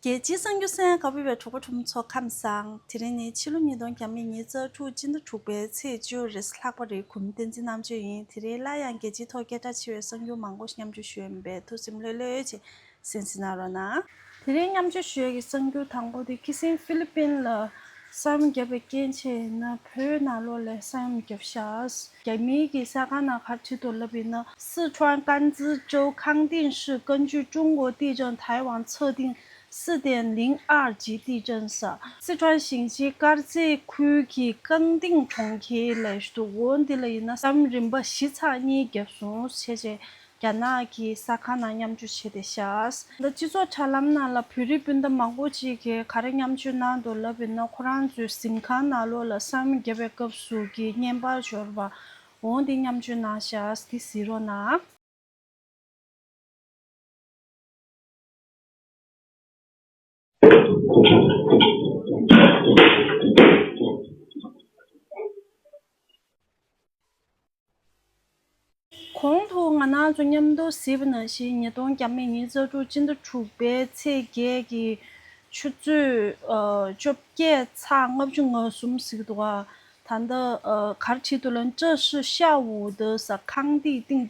རྒྱལ་སྤྱིའི་གསང་རྒྱུད་སེང་གེ་བོད་པའི་གྲོགས་པོ་གྲོགས་མོ་ཚོ་ཁམས་བཟང། དེ་རིང་ནི་ཕྱི་ལོ་ཉིས་སྟོང་གྱ་མེད་ཉིན་གཙང་ཕྲུག་སྤྱི་ཟླ་དྲུག་པའི་ཚེས་བཅུ་རེས་ལྷག་པ་རེའི་གུང་བསྟན་འཛིན་རྣམ་དཔྱོད་ཡིན་དེ་རིང་སླར་ཡང་རྒྱལ་སྤྱིའི་ཐོག་སྐད་གྲགས་ཆེ་བའི་གསང་རྒྱུད་མང་པོ་མཉམ་སྤྱོད་ཞུ་ཡོད་པས་ཐུགས་སེམས་ལྷོད་ལྷོད་ཀྱིས་གཟན་ཟིན་གནང་རོགས་གནང། དེ་རིང་མཉམ་སྤྱོད་ཞུ་ཡས་ཀྱི་གསང་རྒྱུད་དང་པོ་དེ་ཁི་སིན་ཧྥི་ལི་པིན་ལ་གསར་མི་རྒྱབ་པའི་སྐྱེན་ཆས་ཡིན་ན་བོད་ནང་ལོག་ལས་གསར་མི་རྒྱབ་ཤགས། རྒྱ་མིའི་གི་ས་གང་ན་ཁར་ཁྲི་ཐོ་ལབ་ཡིན་ན། སི་ཁྲོན་ཀན་ཙི་ཅོའུ་ཁང་ཏིང་ཧྲི་ཀན་རྒྱུད་ཀྲུང་གོ་ཏི་ཅང་ཐའེ་ཝང་ཚོ་ཏིང་སི་ཏན་ལིང་ཨར་ཇི་ཏི་ཅང་ས། སི་ཁྲོན་ཞིང་ཆེན་དཀར་མཛེས་ཁུལ་གྱི་ཀང་ཏིང་གྲོང་ཁྱེར་ལས་ཞུ་དུ་འོ་འདི་ལ་ཡིན་ན་གསར་མི་རིམ་པ་བཞི་ཚགས་གཉིས་རྒྱབ་སོང་ཆེ་ཆེ་རྒྱ་ནག་གི་ས་ཁང་ནང་མཉམ་སྤྱོད་བྱས་ཏེ་བཞག། ད་སྤྱི་ཚོགས་དྲ་ལམ་ནང་ལ་བོད་རིགས་སྤུན་ཟླ་མང་པོ་ཅིག་གིས་ག་རེ་མཉམ་སྤྱོད་གནང་འདུག་ལབ་པའི་ནང་ཁོ་རང་ཚོའི་གཟིམ་ཁང་ནང་ལོགས་ལ་སང་མི་རྒྱ་བའི་སྐབས་སུ་གི་བརྙན་པར་འབྱོར་བ་འོང་དེ་མཉམ་སྤྱོད་གནང་བཞག་དེ་གཟིགས་རོགས་གནང། གོང་དུ་ང་ནང་དུ་མཉམ་དུ་གཟིགས་པ་ན་ཞེས་ཉིས་སྟོང་གྱ་མེད་ཉིན་གཙོ་ཕྲུག་སྤྱི་ཟླ་དྲུག་པའི་ཚེས་བརྒྱད་ཀྱི་ཆུ་ཚོད་བཅོ་བརྒྱད་ཚ་ལྔ་བཅུ་ང་གསུམ་གཟིགས་འདུག་ད་ལྟ་གར་ཁྲིད་དུ་ལན་ཀྲི་ཧྲི་ཤ་ཝུའུ་ཏི་ས་ཁང་དེའི་སྟེང་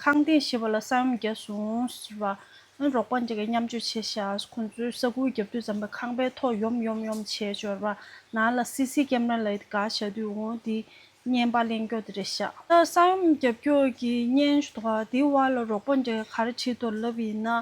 ཁང་སྟེང་ཞེས་པ་ལ་ས་ཡོམ་བརྒྱ་བྱུང་ཟེར་བ། རོགས་པ་འདྲེ་འགས་མཉམ་སྤྱོད་བྱས་བཞག་ཁོ་ཚོའི་ས་ཁུག་རྒྱབ་དུས་རྩམ་པའི་ཁང་པའི་ཐོག་ཡོམ་ཡོམ་ཡོམ་བྱས་འབྱོར་བ། ནང་ལ་སི་སི་ཀེམ་ར་ལ་ཡིད་དགའ་བྱ་དུས་འོང་དེ་བརྙན་པར་གླེང་རྒྱོག་དེ་རེད་བཞག། ས་ཡོམ་རྒྱབ་སྐྱོར་གྱི་བརྙན་ཐོག་དེའི་བར་ལ་རོགས་པ་འདྲེ་གར་ཁྲིད་དོར་ལབ་ཡིན་ན།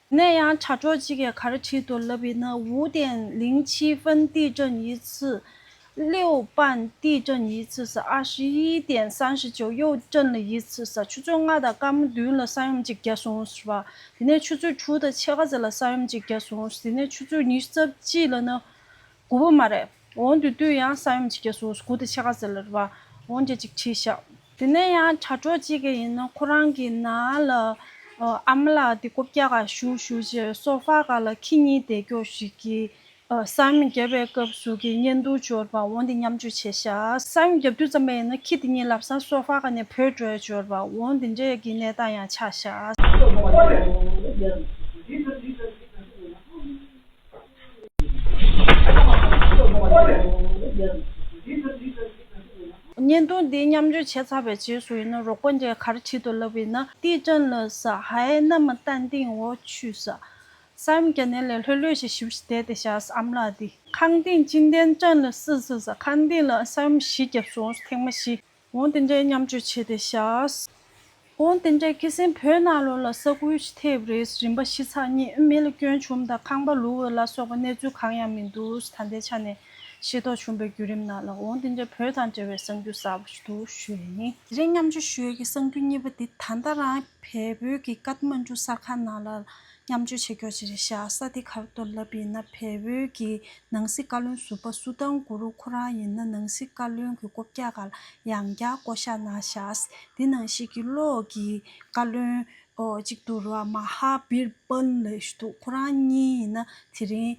ནས་ཡང་དྲ་གྲོགས་གཅིག་གིས་ག་རེ་བྲིས་འདུག་ལབ་བི་ན་ཝུའུ་ཏན་ལིང་ཆི་ཧྥན་ཏི་ཀྲེན་ཡི་ཙི། ལིའུ་པན་ཏི་ཀྲེན་ཡི་ཙི་ཟ་ཨ་ཧྲི་ཡི་ཏན་སན་ཧྲི་ཅོ་ཡོའུ་ཀྲེན་ལི་ཡི་ཙི་ཟ་ཆུ་ཚོད་ལྔ་དང་སྐར་མ་བདུན་ལ་ས་ཡོམ་གཅིག་བརྒྱ་སོང་ཟེར་བ། དེ་ནས་ཆུ་ཚོད་དྲུག་དང་ཕྱེད་ཀ་ཟེར་ལ་ས་ཡོམ་གཅིག་བརྒྱ་སོང་ཟེར། དེ་ནས་ཆུ་ཚོད་ཉི་ཤུ་རྩ་གཅིག་ལ་ནི་དགུ་བོ་མ་རེད། འོན་ཏེ་ལྟོས་ཡང་ས་ཡོམ་བྱེད་རྒྱ་སོ་སོ་གུ་དེ་ཕྱེད་ཀ་ཟེར་ལར་བ་འོན་རྒྱ་ཅིག་ཁྲིད་ཤག། དེ་ནས་ཡང་དྲ་གྲོགས་གཅིག་གི་ཡིན་ནོ་ཁོ་རང་གི་ན་ལ་ཨ་མ་ལགས་དེ་ཀོ་བཀྱག་ག་ཞུ་ཞུ་རྗེས་སོ་ཕག་ག་ལ་ཁྱི་གཉིས་དེད་ཀྱོག་ཞིག་གིས་ས་ཡོམ་བརྒྱབ་པའི་སྐབས་སུ་གི་གཉེན་འདུག་འབྱོར་བ་འོན་ཏེ་མཉམ་སྤྱོད་བྱེད་ཤག། ས་ཡོམ་བརྒྱབ་དུས་ཙམ་པ་ཡིན་ནོ་ཁྱི་དེ་གཉིས་ལབ་ས་སོ་ཕག་ག་ནས་བུད་འགྲོའི་འབྱོར་བ་འོན་དེ་འདྲའི་གི་གནས་སྟངས་ཡང་ཆགས་ཤག། བརྙན་ཐུང་འདི་མཉམ་སྤྱོད་བྱས་ཚར་བའི་རྗེས་སུ་ཡིན་ན་རོགས་པ་འདྲའི་གར་བྱེད་དུ་ལབ་ཡིན་ན་ཏི་ཀྲན་ལ་ས་ཧའི་མནའ་མ་ཏན་ཏིང་འོག་ཆུད་ས་སམ་རྒྱ་ནན་ལས་ལྷོད་ལྷོད་ཞིག་ཞིབ་ཞིབ་བསྡད་དེ་བཞག་ས་ཨམ་ལགས་འདི། ཁང་ཏིང་ཅིན་ཏན་ཀྲན་ལ་སི་ས་ས་ཁང་ཏིང་ལ་ས་ཡོམ་བཞི་བརྒྱབ་སོང་ཐེངས་མ་བཞི་དབང་རྟེན་འབྲེལ་མཉམ་སྤྱོད་བྱས་ཏེ་བཞག། དབང་རྟེན་འབྲེལ་སྐྱེད་སྲིང་བོད་ནང་ལོ་ལ་ས་ཁུལ་ཐེབས་རེས་རིམ་པ་བཞི་ཚགས་གཉིས་ཨུ་མེལ་སྐྱོན་བྱུང་དང་ཁང་པ་ལུ་འོས་ལ་སོགས་པ་གནས་ཚུལ་གང་ཡང་མི་འདུག་ད་ལྟའི་ཆ་ནས་ཤེས་རྟོགས་བྱུང་པའི་བརྒྱུད་རིམ་ནང་ལ་དབང་རྟེན་འབྲེལ་བོད་དང་འབྲེལ་བའི་གསང་རྒྱུ་གསར་བ་ཞིག་འདུག་ཞུས་པ་ཡིན། དེ་རིང་མཉམ་སྤྱོད་ཞུས་ཀྱི་གསང་རྒྱུ་གཉིས་པ་དེ་ད་ལྟ་རང་བལ་བོད་ཀྱི་ཀཱཐ་མ་འཇུ་གསར་ཁང་ནང་ལ་མཉམ་སྤྱོད་བྱེད་རྒྱུ་བཅས་བྱ་ས་དེ་གར་གཏོར་བརླབས་ཡིན་ན་བལ་བོད་ཀྱི་ནང་སྲིད་བཀའ་བློན་ཟུར་པ་སུ་ཐང་གུ་རུ་ཁོ་རང་ཡིན་ན་ནང་སྲིད་བཀའ་བློན་གྱི་སྐོབ་རྒྱ་གར་ཡང་བརྒྱ་བསྐོ་བཞག་གནང་བཞག་དེ་ནང་བཤད་ཀྱི་བློ་ཀྱི་བཀའ་བློན་གཅིག་འདུག་རོ་མ་ཧ་བིར་པན་ལེ་ཞུ་འདུག་ཁོ་རང་གཉིས་ཡིན་ན་དེ་རིང་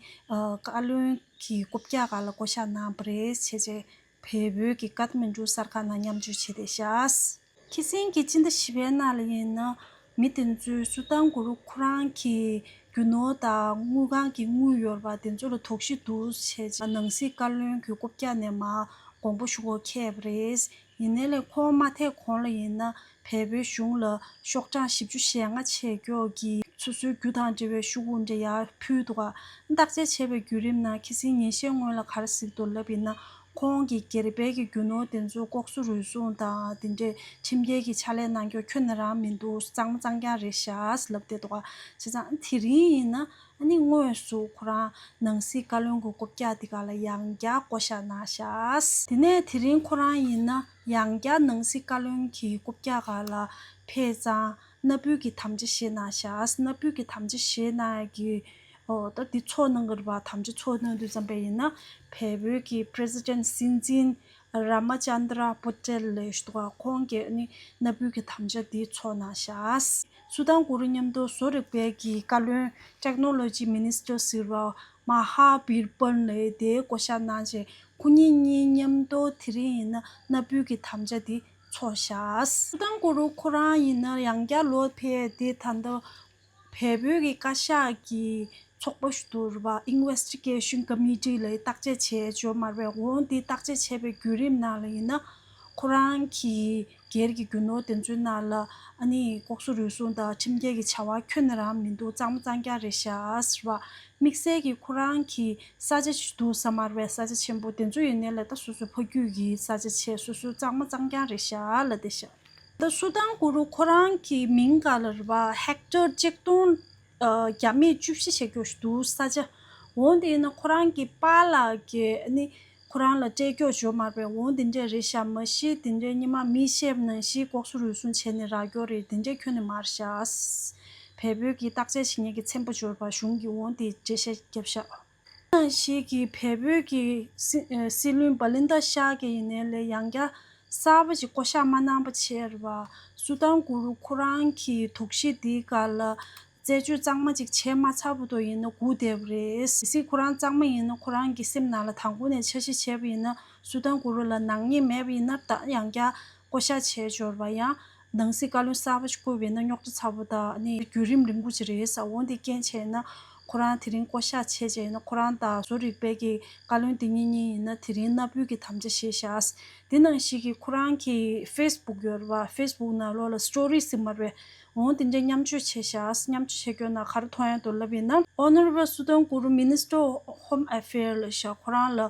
བཀའ་བློན་གྱི་སྐོབ་རྒྱ་གར་ལ་བསྐོ་བཞག་གནང་བ་རེད་བྱས་རྗེས། བལ་བོད་ཀྱི་ཀར་མན་གྲུ་གསར་ཁག་ནང་མཉམ་སྤྱོད་བྱས་ཏེ་བཞག། ཁྱི་སེང་གིས་ཅི་འདྲ་བྱིས་པའི་རྣ་ལ་ཡིན་ན། མི་དེ་ཚོས་སུ་དང་གུ་རུ་ཁོ་རང་གི་རྒྱུ་ནོར་དང་དངུལ་ཁང་གི་དངུལ་ཡོར་བ་དེ་ཚོ་ལ་དོགས་གཞི་འདུག་བྱས་རྗེས་ནང་སྲིད་བཀའ་བློན་གྱི་སྐུ་བཀྱག་ནས་མ་དགོངས་པ་ཞུ་སྒོ་ཁེབས་པ་རེད། ཡིན་ན་ལས་ཁོང་མ་ཐེག་གོང་ལ་ཡིན་ན་བལ་བོའི་གཞུང་ལ་ཤོག་གྲངས་བཞི་བཅུ་ཞེ་ལྔ་ཆེ་མགྱོགས་ཀྱི་སོ་སོའི་རྒྱུ་དང་འབྲེལ་བའི་ཤོག་བུ་འདྲེ་ཡག་ཕུལ་འདུག་བརྟག་དཔྱད་བྱས་པའི་བརྒྱུད་རིམ་ནང་ཁི་སིའི་ཉན་བཤད་སྔོན་ལ་གར་གཟིགས་དུ་ལབ་ཡིན་ན་ཁོང་གིས་སྒེར་བལ་གྱི་རྒྱུ་ནོར་དེ་ཚོ་ལྐོག་གསོད་རུལ་སུངས་དང་དེ་འདྲའི་ཁྲིམས་འགལ་གྱི་ཕྱག་ལས་གནང་སྐྱོར་ཁྱོད་ནས་རང་མི་འདུག་གཙང་མ་གཙང་རྐྱང་རེད་ཤགས་ལབ་བསྡད་འདུག་བྱས་ཙང་དེ་རིང་ཡིན་ན་ཨ་ནི་དངོས་སུ་ཁོ་རང་ནང་སྲིད་བཀའ་བློན་གྱི་སྐོབ་རྒྱག་འདི་ག་ལ་ཡང་བརྒྱག་བསྐོ་ཤགས་གནང་ཤགས། དེ་ནས་དེ་རིང་ཁོ་རང་ཡིན་ན། ཡང་བསྐྱར་སྣང་སྲིད་བཀའ་བློན་གྱི་སྐུ་བརྒྱ་ག་ལ་ཕེ་ཙང་སྣ་བུད་ཀྱི་དམ་བཅའ་བཞེས་གནང་ཞགས་སྣ་བུད་ཀྱི་དམ་བཅའ་བཞེས་གནང་གི་འོག་ད་འདི་ཚོགས་གནང་གི་རེད་བ་དམ་བཅའ་ཚོགས་གནང་དུས་བརྩམས་པ་ཡིན་ན་བལ་བོད་ཀྱི president སྲིད་འཛིན Ramachandra Patel ལོས་ཞུ་བ་ཁོང་གིས་ནི་སྣ་བུད་ཀྱི་དམ་བཅའ་འདི་ཚོགས་གནང་ཞགས་སུ་དང་གུ་རུ་མཉམ་དུ་བཟོ་རིག་པའི་གྱི་བཀའ་བློན Technology Minister ཟེར་བ་མ་ཧཱ་བིར་པཱན་ལས་དེའི་བསྐོ་བཞག་གནང་རྗེས་སྐུ་ཉིད་གཉིས་མཉམ་དུ་དེ་རིང་ཡིན་ན་མནའ་བུལ་གྱི་དམ་བཅའ་འདི་འཚོགས་བཞག། སྐུ་ཐང་སྐུ་རུ་ཁོ་རང་ཡིན་ན་ཡང་བསྐྱར་ལོ་དེ་དེ་ད་ལྟ་བལ་བོད་ཀྱི་བཀའ་ཤག་གི་ཚོགས་པ་ཟུར་བ Investigation Committee ལས་བརྟག་དཔྱད་བྱས་བཅོས་མར་བས་འོང་འདི་བརྟག་དཔྱད་བྱས་པའི་བརྒྱུད་རིམ་ནང་ལ་ཡིན་ན་ཁོ་རང་གི་སྒེར་གྱི་རྒྱུ་ནོར་དེ་ཚོའི་ནང་ལ་ཨ་ནི་ལྐོག་གསོད་རུལ་སུངས་དང་ཁྲིམས་འགལ་གྱི་བྱ་བ་ཁྱོན་ནས་རང་མི་འདུག་གཙང་མ་གཙང་རྐྱང་རེད་ཤཱས་ར། དམིགས་བསལ་གྱི་ཁོ་རང་གི་ས་ཆ་ཞིག་འདུག་ས་དམར་བའི་ས་ཆ་ཆེན་པོ་དེ་ཚོ་ཡི་ནས་ལ་ད་སོ་སོའི་ཕ་རྒྱུད་ཀྱི་ས་ཆ་ཆེ་སོ་སོའི་གཙང་མ་གཙང་རྐྱང་རེད་ཤཱས་ལ་དེ་ཤཱས། ད་སུ་དང་ཀུ་རུ་ཁོ་རང་གི་མིང་ག་ལ་རི་བ Hector གཅིག་སྟོང་བརྒྱ་མེད་བཅུ་བཞི་ཞེ་ཀྱོ་ཞིག་འདུག་ས་ཆ་འོང་དེ་ཡི་ན་ཁོ་རང་གི་པ་ལགས་ཀྱི་ཨ་ནི་ཁོ་རང་ལ་སྐྲས་སྐྱོགས་བྱོ་མར་པས་འོང་དེ་འདྲས་རེད་ཤ་མ་ཤེས་དེ་འདྲས་ཉི་མ་མི་ཤེས་པ་ནང་བཞིན་ལྐོག་སུ་རུལ་སུང་བྱས་ནས་རག་སྐྱོགས་རེད་དེ་འདྲས་ཁྱོད་ནས་མར་ཤ། བལ་བོད་ཀྱི་བརྟག་དཔྱད་ཞིག་ཉེས་ཀྱི་མཚན་པོ་འབྱོར་བར་གཞུང་གིས་འོང་དེ་འདྲས་ཤ་རྒྱབ་ཤ། ནང་ཞིག་གིས་བལ་བོད་ཀྱི་སྲིད་བློན་བ་ལི་འདའ་ཤ་གི་ཡིན་ནའི་ལས་ཡང་བསྐྱར་གསར་པ་ཞིག་བསྐོ་ཤ་མ་གནང་པ་ཕྱིར་བ་སུ་དང་གུ་རུ་ཁོ་རང་གིས་དོགས་གཞི་འདིའི་སྐར་ལ། རྩད་གཅོད་གཙང་མ་ཅིག་བྱས་མ་ཚར་བུ་དོ་ཡིན་ན་སྒུག་བསྡད་པ་རེད། གལ་སྲིད་ཁོ་རང་གཙང་མ་ཡིན་ན་ཁོ་རང་གི་སེམས་ནང་ལ་དང་པོ་ནས་འཆར་གཞི་བྱས་པ་ཡིན་ན་སུ་དང་གུ་རུ་ལ་ནག་ཉེས་མེད་པ་ཡིན་ན་བདག་ཡང་བསྐྱར་བསྐོ་གཞག་བྱས་འབྱོར་བ་ཡང་ནང་སྲིད་བཀའ་བློན་གསར་བ་ཞིག་བསྐོས་པ་ཡིན་ན་རྙོག་དྲ་ཚ་བོ་དག་ནི་བརྒྱུད་རིམ་རིང་པོ་ཅིག་རེད་ས་འོ་འདི་རྐྱེན་བྱས་ན་ཁོ་རང་དེ་རིང་བསྐོ་གཞག་བྱས་བྱས་ཡིན་ན་ཁོ་རང་དང་བཟོ་རིག་པའི་གི་བཀའ་བློན་དེ་གཉིས་གཉིས་ཡིན་ན་དེ་རིང་གནའ་བོའི་གི་དམ་བཅའ་བཞེས་བཞག་འདི་ནང་ཞིག་གི་ཁོ་རང་གི་ཧྥེ་སི་བུག་ཡོད་རེད་བ་ཧྥེ་སི་བུག་ནང་ལོག་ལ་སི་ཏྲོ་རི་སི་མར་བའི་འོང་དེ་འདྲའི་མཉམ་སྤྱོད་བྱས་ཤག་མཉམ་སྤྱོད་བྱེད་དགོས་ན་ག་རུ་ཐོ་ཡང་དུ་ལབ་ཡིན་ནམ། Honorable Sudan Kuru Minister of Home Affair ལ་ཤག་ཁོ་རང་ལ་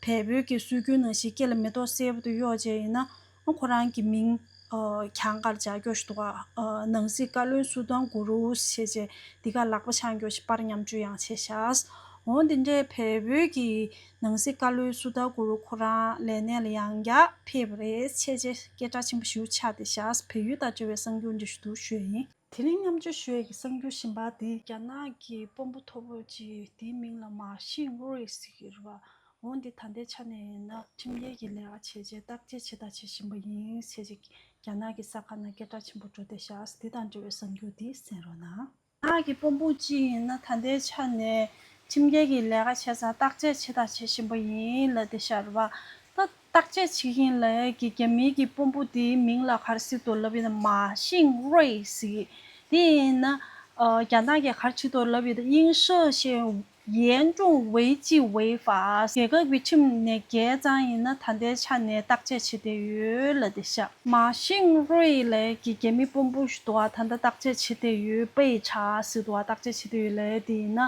བལ་བོད་ཀྱི་སྲོལ་རྒྱུན་ནང་བཞིན་སྐེ་ལ་མེ་ཏོག་གསལ་པོ་དུ་གཡོགས་བྱས་ཡིན་ན་ཁོ་རང་གི་མིང་གྱང་ཀར་འཇགས་རྒྱོགས་ཤིག་འདུག་ཨ། ནང་སྲིད་བཀའ་བློན Sudan Kuru བྱས་རྗེས་འདི་ག་ལག་པ་འཆང་རྒྱོགས་ཤིག་པར་མཉམ་སྤྱོད་ཡང་བྱས་ཤག་འོང་དེ་འདྲའི་བལ་བོད་ཀྱི་ནང་སྲིད་བཀའ་བློན་སུ་དཱ་གུ་རུ་ཁོ་རང་ལས་གནས་ལ་ཡང་བསྐྱར་ཕེབས་པ་རེད། ཆེས་རྗེ་སྐད་གྲགས་ཆེན་པོ་ཞུ་ཆ་དེ་བཞག་བལ་ཡུལ་དང་བཅོལ་བའི་གསང་རྒྱུད་འབྲི་ཞུ་དུར་ཞོད་ཡིན། དེ་རིང་མཉམ་སྤྱོད་ཞོད་ཀྱི་གསང་རྒྱུད་ཞིམ་པ་འདི། རྒྱ་ནག་གི་དཔོན་པོ་མཐོ་པོ་གཅིག་དེའི་མིང་ལ་མ་ཤིང་ཝུ་རིག་ཟེར་བ། འོ་འདི་ད་ལྟའི་ཆ་ནས་ཡིན་ན་ཁྲིམས་འགལ་གྱི་ལས་ཀ་བྱས་རྗེས་བརྟག་དཔྱད་བྱེད་དང་བྱེད་བཞིན་པ་ཡིན། ཆེས་རྗེ་རྒྱ་ནག་གི་ས་ཁ་ན་སྐད་གྲགས་ཆེན་པོ་འགྲོ་དེ་བཞག་དེ་དང་འབྲེལ་བའི་གསང་རྒྱུད་འདི་གསན་རོགས་གནང། ནག་གི་དཔུང་ཕུང་ཅི་ཡིན་ན་ད་ལྟའི་ཆ་ནས་ཁྲིམས་འགལ་གྱི་ལས་ཀ་བྱས་ཙང་བརྟག་དཔྱད་བྱས་དང་བྱེད་བཞིན་པ་ཡིན་ལ་དེ་ཤར་བ་ད་བརྟག་དཔྱད་བྱེད་བཞིན་ལ་ཡས་ཀྱི་རྒྱ་མིའི་གྱི་དཔུང་ཕུང་དེའི་མིང་ལ་གར་སི་ཏོ་ལབ་ཡི་ན་མ་ཤིང་རོས་ཟིག་དེ་ཡིན་ན་རྒྱ་ནག་གི་གར་ཆི་ཏོ་ལབ་ཡི་ད་དབྱིན་ཧྲི་ཞེས་ཡན་ཀྲུང་ཝེ་ཅི་ཝེ་ཧྥ་རྒྱལ་ཁབ་ཀྱི་ཁྲིམས་ནས་རྒྱའི་གཙང་ཡིན་ན་ད་ལྟའི་ཆ་ནས་བརྟག་དཔྱད་བྱེད་བདེ་ཡོད་ལ་དེ་ཤ་མ་ཤིང་རུའེ་ལེ་ཀྱི་རྒྱལ་མི་པོམ་པུའུ་ཞི་ཏུ་བ་ད་ལྟ་བརྟག་དཔྱད་བྱེད་བདེ་ཡོད་པའི་ཆ་ཞི་ཏུ་བ་བརྟག་དཔྱད་བྱེད་བདེ་ཡོད་ལ་དེ་ཡིན་ན་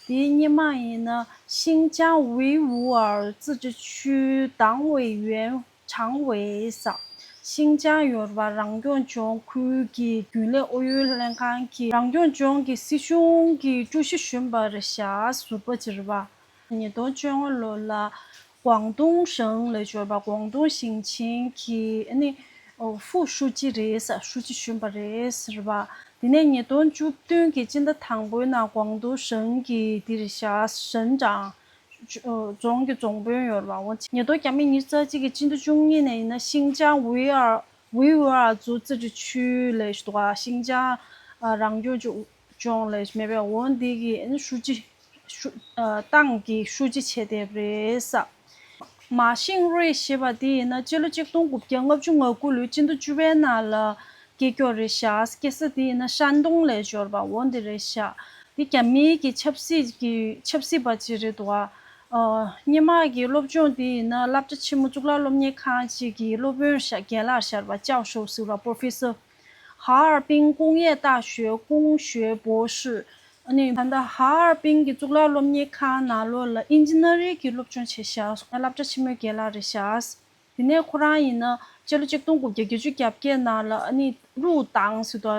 དེའི་སྙེ་མ་ཡིན་ན་ཤིང་ཅང་ཝུའུ་ཝུའར་ཙི་ཀྲི་ཆུའི་ཏང་ཝེ་ཡུན་ཆང་ཝེས། ཤིང་ཅང་ཡོར་བ་རང་སྐྱོང་ལྗོངས་ཁུལ་གྱི་རྒྱུན་ལས་ཨུ་ཡོན་ལྷན་ཁང་གི་རང་སྐྱོང་ལྗོངས་ཀྱི་སྲིད་གཞུང་གི་ཀྲུའུ་ཞི་གཞོན་པ་རེ་ཞྭ་ཟུར་པ་བྱེད་རུ་བ། ཉིས་སྟོང་བཅོ་ལྔ་ལོ་ལ་ཀོང་ཏུང་ཞིང་ལས་ཅོ་པ་ཀོང་ཏུང་ཞིང་ཆེན་གྱི་ཧྥུའུ་ཧྲུའུ་ཅི་རེ་ཞྭ་ཧྲུའུ་ཅི་གཞོན་པ་རེ་ཟུར་བ། དེ་ནས་ཉིས་སྟོང་བཅུ་བདུན་གྱི་སྤྱི་ཟླ་དང་པོའི་ནང་ཀོང་ཏུང་ཞིང་གི་དེ་རེ་ཞྭ་ཞིང་ཀྲང་རྫོང་གི་རྫོང་དཔོན་ཡོར་བ་ཝང་ཆི་ཉེ་རྡོ་རྒྱ་མི་ཉིས་རྩ་གཅིག་གིས་སྤྱི་ཟླ་བཅུ་གཉིས་ནས་ཡིན་ན་ཤིང་ཅང་ཝུའུ་ཨར་རྫོང་རྩིས་ཁྲི་ཆུའི་ལས་གཞི་དང་ཤིང་ཅང་རང་སྐྱོང་ལྗོངས་ལས་གཞི་མེད་པས་ཝང་དེ་གིས་ཧྲུའུ་ཅི་ཏང་གི་ཧྲུའུ་ཅི་བྱས་ཐེབས་རེད། མཱ་ཤིང་རུའེ་ཞེས་པ་དེ་ཡིན་ན་སྤྱི་ལོ་གཅིག་སྟོང་དགུ་བརྒྱ་ལྔ་བཅུ་ང་དགུ་ལོའི་སྤྱི་ཟླ་བཅུ་པའི་ནང་ལ་སྐེ་ཀྱོག་རེ་བཞག་སྐེ་ས་དེ་ཡིན་ན་ཧྲན་ཏུང་ལས་འབྱོར་པ་འོ་འདི་རེ་བཞག་འདི་རྒྱ་མི་གི་ཆབ་སྲིད་ཀྱི་ཆབ་སྲིད་པ་ཅིག་རེད་འདུག་ཨ། སྙེ་མ་གི་སློབ་སྦྱོང་དེ་ཡིན་ན་བསླབ་བྱ་ཆེན་མོ་གཙུག་ལག་སློབ་གཉེར་ཁང་ཅིག་གི་སློབ་དཔོན་རྒན་ལགས་ཞར་བ་ཅའོ་ཧྲོའུ་སུའུ་ལ Professor Har Ping ཀུང་ཡེ་ཏག་ཞོའི་ཀུང་ཞོའི་པོ་ཧྲི་ཨ་ནི། ད་ལྟ Har Ping གི་གཙུག་ལག་སློབ་གཉེར་ཁང་ནང་ལོ་ལ Engineering གི་སློབ་སྦྱོང་བྱེད་ཞག་བསླབ་བྱ་ཆེན་མོའི་རྒན་ལགས་རེ་བཞག་དེ་ནས་ཁོ་རང་ཡིན་ན་སྤྱི་ལོ་གཅིག་སྟོང་དགུ་བརྒྱ་བརྒྱད་ཅུ་གྱ་བརྒྱད་ནང་ལ་ཨ་ནི་ཀླུ་ཏང་ཟེར་དོ་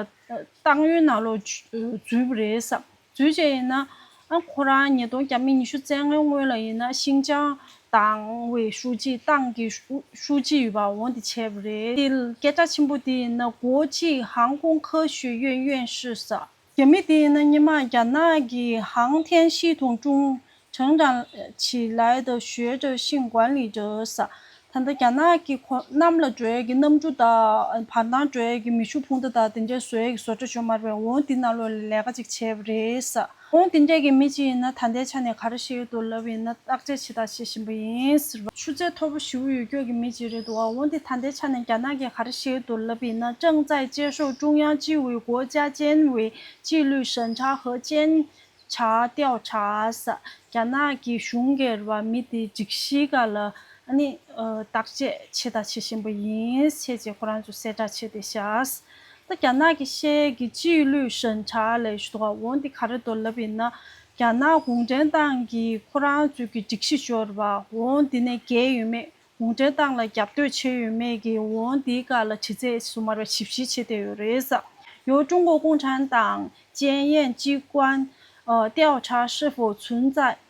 ཏང་ཡོན་ནང་ལོག་འཛུལ་བུ་རེད་བསམ་འཛུལ་བྱས་ཡིན་ན་ཁོ་རང་ཉིས་སྟོང་གྱ་མི་ཉི་ཤུ་བཙན་ལྔའི་སྔོན་ལ་ཡིན་ན་ཤིང་ཅང་ཏང་བའི་ཧྲུའུ་ཅི་ཏང་གི་ཧྲུའུ་ཅི་ཡོད་པ་འོང་དེ་བྱས་བུ་རེད་དེ་སྐད་གྲགས་ཆེན་པོ་དེ་ཡིན་ན་གོ་ཅིག་ཧང་ཀོང་ཁ་ཞུས་ཡོན་ཡོན་ཧྲི་བསམ། རྒྱ་མི་དེ་ཡིན་ན་སྙེ་མང་རྒྱ་ནག་གི་ཧང་ཐེན་ཤིས་ཐུང་ཀྲུང་ཁྲང་ཀྲང་ཆི་ལའེ་ཏོ་ཞོའེ་ཀྲོའེ་ཤིང་ཀུའན་ལི་ཀྲོས་ད་ལྟ་རྒྱ་ནག་གི་ཁོ་གནམ་ལ་འགྲོ་ཡས་ཀྱི་གནམ་གྲུ་དང་བར་མདངས་འགྲོ་ཡས་ཀྱི་མི་ཤུགས་འཕུང་མདའ་དང་དེ་འདྲས་བཟོ་ཡས་ཀྱི་བཟོ་གྲ་བྱོ་མར་བས་འོང་དེ་ན་ལོ་ལས་ལས་ཀ་ཅིག་བྱས་པ་རེད། འོང་དེ་འདྲས་ཀྱི་མི་ཅིག་ཡིན་ན་ད་ལྟའི་ཆ་ནས་ག་རེ་བཤད་ཡོད་འདུག་ལབ་ཡིན་ན་བརྟག་དཔྱད་བྱས། ཞེས་དང་བྱེད་བཞིན་པ་ཡིན། ཆུ་ཚད་མཐོ་པོ་ཞིག་ཡོད་སྐྱོད་ཀྱི་མི་གཅིག་རེད་འདུག་འོན་ཏེ་ད་ལྟའི་ཆ་ནས་རྒྱ་ནག་གིས་ག་རེ་ཞིག་ཏུ་ལབ་ཡིན་ན་ཀྲང་ཙའེ་བཅས་ཤོག་ཀྲུང་དབྱང་སྤྱི་བའི་སྒོ་བཅའ་ཅན་བའི་སྤྱི་ལུས་ཞན་ཆ་ཧ་ཅན་ཆ་ཏའོ་ཆཱས་རྒྱ་ནག་གི་གཞུང་སྒེར་བ་མི་དེའི་སྒྲིག་གཞི་འགའ་ལ་བརྟག་དཔྱད་བྱས་དང་བྱེད་བཞིན་པ་ཡིན། བྱས་རྗེས་ཁོ་རང་ཚོས་གསལ་བསྒྲགས་བྱས་ཏེ་བཞག། ད་རྒྱ་ནག་གི་ཤེས་ཡས་ཀྱི་སྤྱི་ཡི་ལུས་ཞན་ཆ་ལས་ཞུ་དོག་འོང་འདི་ག་རེ་མདོ་ལབ་ཡིན་ན་རྒྱ་ནག་གུང་ཁྲན་ཏང་གིས་ཁོ་རང་ཚོས་ཀྱི་སྒྲིག་གཞི་སྦྱོར་བ་འོང་འདི་ནས་འགལ་ཡོད་མེད་གུང་ཁྲན་ཏང་ལ་རྒྱབ་གཏོད་བྱས་ཡོད་མེད་ཀྱི་འོང་འདི་ག་ལ་དྲི་ཚད་སུ་མར་བ་ཞིབ་བཤེར་བྱེད་བསྡད་ཡོད་རེད་ས་ཡོད་ཀྲུང་གོ་གུང་ཁྲན་ཏང་ཅན་ཡན་ཅི་ཀོན་ཏའོ་ཁྲ་ཧྲི་ཧྥོ་ཚུན་ཙའི།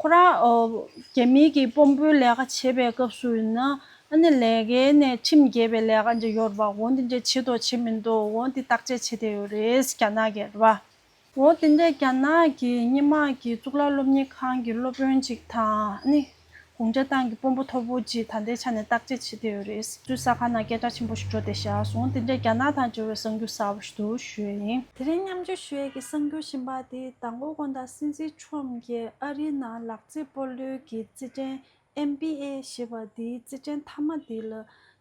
ཁོ་རང་རྒྱ་མིའི་གིས་དཔོན་པོའི་ལས་ཀ་བྱེད་པའི་སྐབས་སུ་ཡིན་ན་ཨ་ནི་ལས་ཀའི་ནས་ཁྲིམས་རྒྱས་པའི་ལས་ཀ་འདྲ་ཡོད་རེད་པ་འོ་འདི་འདྲས་བྱེད་འདོག་བྱེད་མི་འདོག་འོ་འདི་བརྟག་དཔྱད་བྱེད་བསྡད་ཡོད་རེད་རྒྱ་ནག་གིས་རེད་པ། འོ་དེ་འདྲས་རྒྱ་ནག་གི་སྙེ་མ་གི་གཙུག་ལག་སློབ་གཉེར་ཁང་གི་སློབ་དཔོན་ཅིག་དང་ཨ་ནི་གུང་ཁྲན་ཏང་གི་དཔོན་པོ་མཐོ་པོ་ཅིག་ད་ལྟའི་ཆ་ནས་བརྟག་དཔྱད་བྱེད་བསྡད་ཡོད་རེད། ཚོའི་ས་ཁང་ནང་སྐད་གྲགས་ཆེན་པོ་ཞིག་འགྲོ་བསྡད་བཞག་སོང་འོ་དེ་འདྲས་རྒྱ་ནག་དང་འབྲེལ་བའི་གསང་རྒྱུ་གསར་པ་ཞིག་ཏུ་ཞུས་ཡིན། དེ་རིང་མཉམ་འཇོག་ཞུས་ཡས་ཀྱི་གསང་རྒྱུ་བཞིན་པ་དེ་དང་པོ་དགོན་བདག་སྲིད་འཛིན། ཁྲོམ་གྱིས་ཨ་རིའི་ནང་ལག་རྩེད་སྤོ་ལོའི་གི་རྩེད་འགྲན NBA ཞེས་པ་འདིའི་རྩེད་འགྲན་མཐའ་མ་འདི་ལ་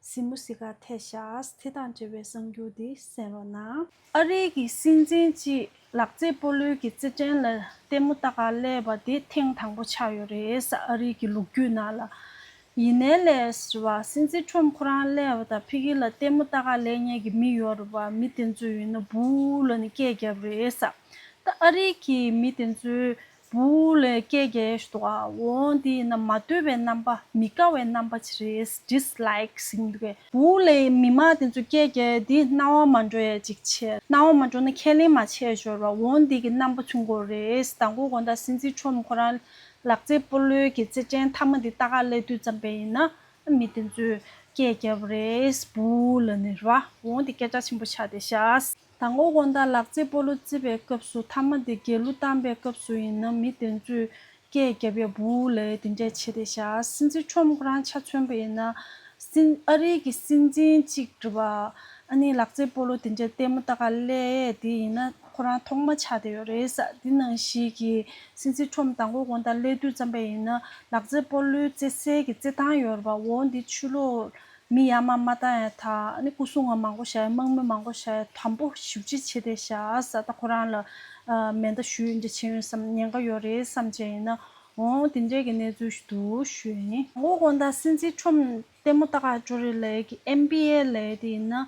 སི་མུ་སི་ཀ་ཐེ་ཤཱས་དེ་དང་འབྲེལ་བའི་གསང་རྒྱུ་འདི་གསན་རོགས་གནང། ཨ་རིའི་གི་སྲིད་འཛིན་གྱིས་ལག་རྩེད་སྤོ་ལོའི་གི་རྩེད་འགྲན་ལ་ལྟད་མོ་ལྟ་ག་ལས་པ་དེ་ཐེངས་དང་པོ་ཆགས་ཡོད་རེད་ཨ་རིའི་གི་ལུགས་རྒྱུད་ནང་ལ་ཡིན་ནའི་ལས་བ་སྲིན་རྩི་ཁྲོམ་ཁོ་རང་ཀླད་བ་དང་ཕི་གི་ལ་ལྟད་མོ་ལྟ་ག་ལས་ཉལ་གི་མི་ཡོད་རེད་བ་མི་དེ་ཚོས་ཡིན་ན་བུ་ལ་ནི་སྐད་རྒྱབ་རེད་ས་ད་ཨ་རི་གི་མི་དེ་ཚོས་བུ་ལ་སྐད་རྒྱ་ཡ་ཞུ་འདུག་ཨ་འོ་འདི་ཡིན་ན་མ་ལྟོས་པའི་རྣམ་པ་མི་དགའ་བའི་རྣམ་པ་ཅིག་རེད Dislike ཟིན་འདུག་གས་བུ་ལའི་མི་མང་དེ་ཚོས་སྐད་རྒྱ་ཡ་འདི་སྣང་བ་མ་འགྲོ་ཡ་ཅིག་བྱས་སྣང་བ་མ་འགྲོ་ན་ཁས་ལེན་མ་བྱས་ཞོར་བ་འོ་འདི་གི་རྣམ་པ་ཆུང་གོ་རེད་ད་མགོ་གོ་ད་སྲིན་རྩི་ཁྲོམ་ཁོ་རང་ལག་རྩེད་སྤོ་ལོའི་གི་རྩེད་ཅན་མཐའ་མ་འདི་ལྟ་ག་ལས་དུས་ཙམ་པའི་ཡིན་ན་མི་དེ་ཚོས་སྐད་རྒྱབ་རེས་བུ་ལ་ནི་ར་འོང་སྟེ་སྐད་ཆ་ཆེན་པོ་ཆགས་ཏེ་ཤ་དང་སྔོ་གོང་དང་ལག་རྩེད་སྤོ་ལོ་རྩེད་པའི་སྐབས་སུ་མཐའ་མ་འདི་རྒྱལ་གླུ་བཏང་པའི་སྐབས་སུ་ཡིན་ན་མི་དེ་ཚོས་སྐད་རྒྱབ་ཡ་བུ་ལས་དེ་འདྲས་བྱས་ཏེ་ཤ་སྲིད་འཛིན་ཁྲོམ་རང་ཆ་མཚོན་པ་ཡིན་ན་སྲིད་ཨ་རིའི་གི་སྲིད་འཛིན་གཅིག་བྲི་བ་ཨ་ནི་ལག་རྩེད་སྤོ་ལོ་དེ་འདྲས་ལྟད་མོ་ལྟ་ག་ལས་དེ་ཡིན་ན། ཁོ་རང་ཐོག་མ་ཆགས་བསྡད་ཡོད་རེད་ས་འདི་ནང་བཞིན་གྱི་སྲིད་འཛིན་ཁྲོམ་དང་གོ་གོང་དང་ཀླད་དུས་ཙམ་པ་ཡིན་ན་ལག་རྩེད་སྤོ་ལོའི་རྩེད་གསལ་གྱི་རྩེད་ཐང་ཡོད་རེད་པ་འོ་འདི་ཆུ་ལོག་མི་ཡ་མ་མ་བཏང་ཡ་ད་ནི་སྐུ་སྲུང་བ་མང་པོ་བཞག་ཡ་དམག་མི་མང་པོ་བཞག་ཡ་དམ་པོ་བཞུགས་རྗེས་ཆེད་དེ་བཞག་ས་ད་ཁོ་རང་ལ་མེ་མདའ་ཞུ་ཡོད་འདྲ་བྱེད་ཡོད་སམ་ཉེན་ཁ་ཡོད་རེད་བསམ་བྱས་ཡིན་ན་འོ་འདི་འདྲས་ཀྱི་གནས་ཚུལ་འདུག་ཞུས་ཡིན། གོ་གོང་དང་སྲིད་འཛིན་ཁྲོམ་ལྟད་མོ་ལྟ་ག་ཅོ་རེ་ལས་ཀྱི MBA ལས་དེ་ཡིན་ན།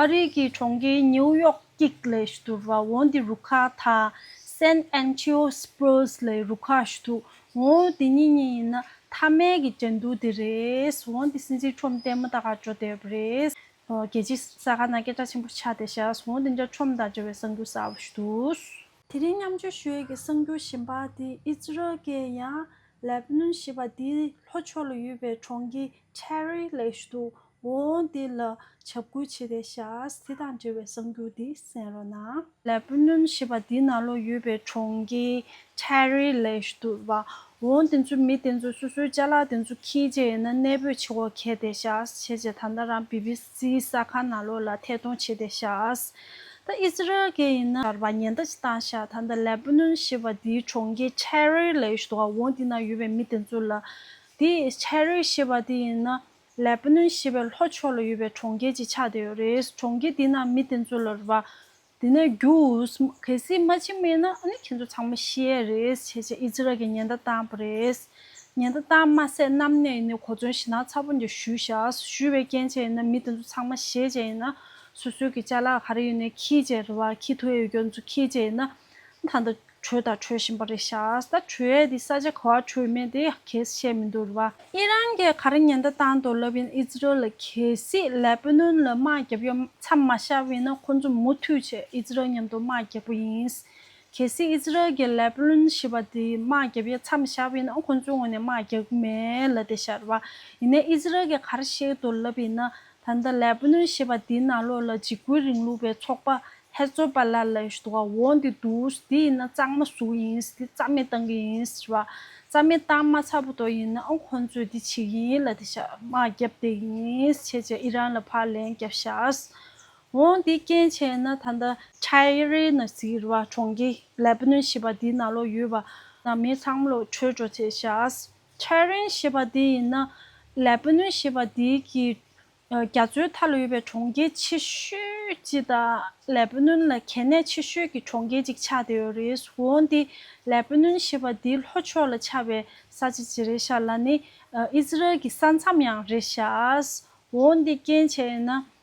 ཨ་རི་གི་གྲོང་ཁྱེར་ནེའུ་ཡོག་གིག་ལས་ཞུ་དུ་བ་འོན་དེ་རུ་ཁག་དག་སན་ཨན་ཆིའོ་སི་པོས་ལས་རུ་ཁག་ཞུ་དུ་འོན་དེ་གཉིས་གཉིས་ཡིན་ན་ཐ་མལ་གི་འགྲན་བསྡུར་དེ་རེད་འོན་དེ་སྲིད་འཛིན་ཁྲོམ་ལྟད་མོ་དག་ག་འགྲོ་བསྡད་པ་རེད། རྒྱལ་སྤྱི་ས་ག་ན་སྐད་གྲགས་ཆེན་པོར་ཆགས་བསྡད་ཤག་འོན་དེ་འདྲ་ཁྲོམ་དང་འབྲེལ་བའི་གསང་རྒྱུ་གསར་བ་ཞུ་དུས། དེ་རིང་མཉམ་སྤྱོད་ཞུ་ཡས་ཀྱི་གསང་རྒྱུ་གཞན་པ་དེ་ཨི་ཛི་རལ་ཀྱི་ཡང་ལེབ་ནོན་ཞེས་པ་དེའི་ལྷོ་ཕྱོགས་ལ་ཡོད་པའི་གྲོང་ཁྱེར་ཆེ་རི་ལས་ཞུ་དུ་འོ་དེ་ལ་བྱབ་ཁུ་བྱས་ཏེ་བཞག་དེ་དང་འབྲེལ་བའི་གསང་རྒྱུད་འདི་གསན་རོགས་གནང། ལས་སྤུན་གནོན་ཞེས་པ་འདི་ན་ལོ་ཡོད་པའི་གྲོང་ཁྱེར Terry Lash དུ་བ་འོ་དེ་ཚོའི་མི་དེ་ཚོའི་སོ་སོའི་བཅའ་ལག་དེ་ཚོ་ཁྱི་བྱས་ཡིན་ན་གནས་སྤོས་བྱེད་འོ་གལ་ཏེ་བཞག་བྱས་བྱས་ད་ལྟ་རང BBC ས་ཁ་ན་ལོ་ལ་ཐད་གཏོང་བྱས་ཏེ་བཞག་ད Israel གལ་ཡིན་ན་བར་བ་ཉེན་ད་ཅི་བཏང་བཞག་ད་ད་ལས་སྤུན་གནོན་ཞེས་པ་འདི་གྲོང་ཁྱེར Terry Lash དུ་བ་འོ་དེ་ན་ཡོད་པའི་མི་དེ་ཚོ་ལ་དེ Terry ཞེས་པ་དེ་ཡིན་ན་ལེ་བྷ་ནོན་ཞེས་པའི་ལྷོ་ཕྱོགས་ལ་ཡོད་པའི་གྲོང་ཁྱེར་གྱི་ཆ་དེ་རེད། གྲོང་ཁྱེར་དེའི་ནང་མི་དེ་ཚོ་ལ་རེ་བ། དེ་ནས་རྒྱུ། གལ་སྲིད་མ་ཕྱི་མེད་ན་ཨ་ནི་ཁྱེད་ཚོ་ཚང་མ་ཤི་ཡས་རེད་ཅེས་བྱས་རྗེས་ཨིས་ར་ཨེལ་གྱིས་ཉེན་བརྡ་བཏང་བ་རེད། ཉེན་བརྡ་བཏང་མ་ཟད་གནམ་ནས་ནི་གོ་མཚོན་ཞེ་ནག་ཚ་པོ་འདི་བཞུས་བཞག་བཞུས་པའི་རྐྱེན་བྱས་ཡིན་ན་མི་དེ་ཚོ་ཚང་མ་ཤེས་བྱས་ཡིན་ན་སོ་སོའི་གི་ཅ་ལག་ག་རེ་ཡོད་ནས་ཁྱིས་བྱས་རེ་བ་ཁྱིས་ཐུ་ཨེ་ཡོད་ཀྱང་ཚོ་ཁྱིས་བྱས་ཡིན་ན་ད་ལྟ། བྲོས་དང་བྲོས་བཞིན་པ་རེད་ཤག་ས་བྲོས་དེ་ས་ཆ་ག་བར་བྲོས་མེད་དེ་གལ་སྲིད་བཤད་མི་འདུག་རེད་བ། ཨི་རན་གྱི་ག་རེ་ཉེན་བརྡ་བཏང་འདུག་ལབ་ཡིན་ཨི་ཛི་རལ་ལ་གལ་སྲིད་ལས་སྤུན་ནུ་ལ་དམག་རྒྱབ་ཡོད་མཚམས་མ་ཤར་བས་ན་ཁོ་ཚོ་མུ་མཐུད་ཆེད་ཨི་ཛི་རལ་མཉམ་དུ་དམག་རྒྱག་པོ་ཡིན། གལ་སྲིད་ཨི་ཛི་རལ་གྱི་ལས་སྤུན་ཞི་བ་དེ་དམག་རྒྱབ་ཡོད་མཚམས་ཤར་བས་ན་ཁོ་ཚོའི་ངོས་ནས་དམག་རྒྱག་གི་མེད་ལ་དེ་ཤར་བ་ཡིན་ན་ཨི་ཛི་རལ་གྱི་ག་རེ་བཤད་འདུག་ལབ་ཡིན་ན་ད་ལྟ་ལེ་བྷ་ནོན་ཞེས་པ་འདིའི་ནང་ལོགས་ལ་འཇིགས་སྐུལ་རིང་ལུགས་པའི་ཚོགས་པ་ཧེ་ཛོ་བྷ་ལ་ལ་ཞེས་འདུག་ག་འོ་འདི་འདུག་འདི་ཡིན་ན་གཙང་མ་བཟུང་ཡིན་འདི་རྩ་མེད་བཏང་གི་ཡིན་ཞེས་པ་རྩ་མེད་བཏང་མ་ཚར་བ་དོག་ཡིན་ན་ཨང་ཁོང་ཚོས་འདི་བྱེད་ཀྱི་ཡིན་ལ་དེ་ཤ་མག་རྒྱབ་བསྡད་ཀྱི་ཡིན་བྱས་བྱས་ཨི་རན་ལ་ཕར་ལན་རྒྱབ་ཤགས་འོ་འདི་རྐྱེན་བྱས་ན་ད་ལྟ། Tyre Nazi ཞེས་པ་གྲོང་ཁྱེར་ལེ་བྷ་ནོན་ཞེས་པ་འདིའི་ནང་ལོགས་ཡོད་པ་ནང་མི་ཚང་མ་ལོགས་བྲོས་འགྲོ་བྱས་ཤགས། ཕྱྭའི་རིན་ཞེས་པ་འདི་ཡིན་ན། ལས་སྤུན་ནོན་ཞེས་པ་འདི་གྱིས། རྒྱ་མཚོའི་མཐའ་ལ་ཡོད་པའི་གྲོང་ཁྱེར་ཆེ་ཤོས་གཅིག་དང། ལས་སྤུན་ནོན་ལ་གལ་གནད་ཆེ་ཤོས་ཀྱི་གྲོང་ཁྱེར་གཅིག་ཆགས་བསྡད་ཡོད་རེད། འོན་ཏེ། ལས་སྤུན་ནོན་ཞེས་པ་འདིའི་ལྷོ་ཕྱོགས་ལ་ཆགས་པའི་ས་ཆ་ཇི་རེད་ཤར་ལ་ནི་ཨིས་རལ་གྱི་ས་མཚམས་ཡང་རེད་ཤག། འོན་ཏེ་རྐྱེན་བྱས་ཡིན་ན།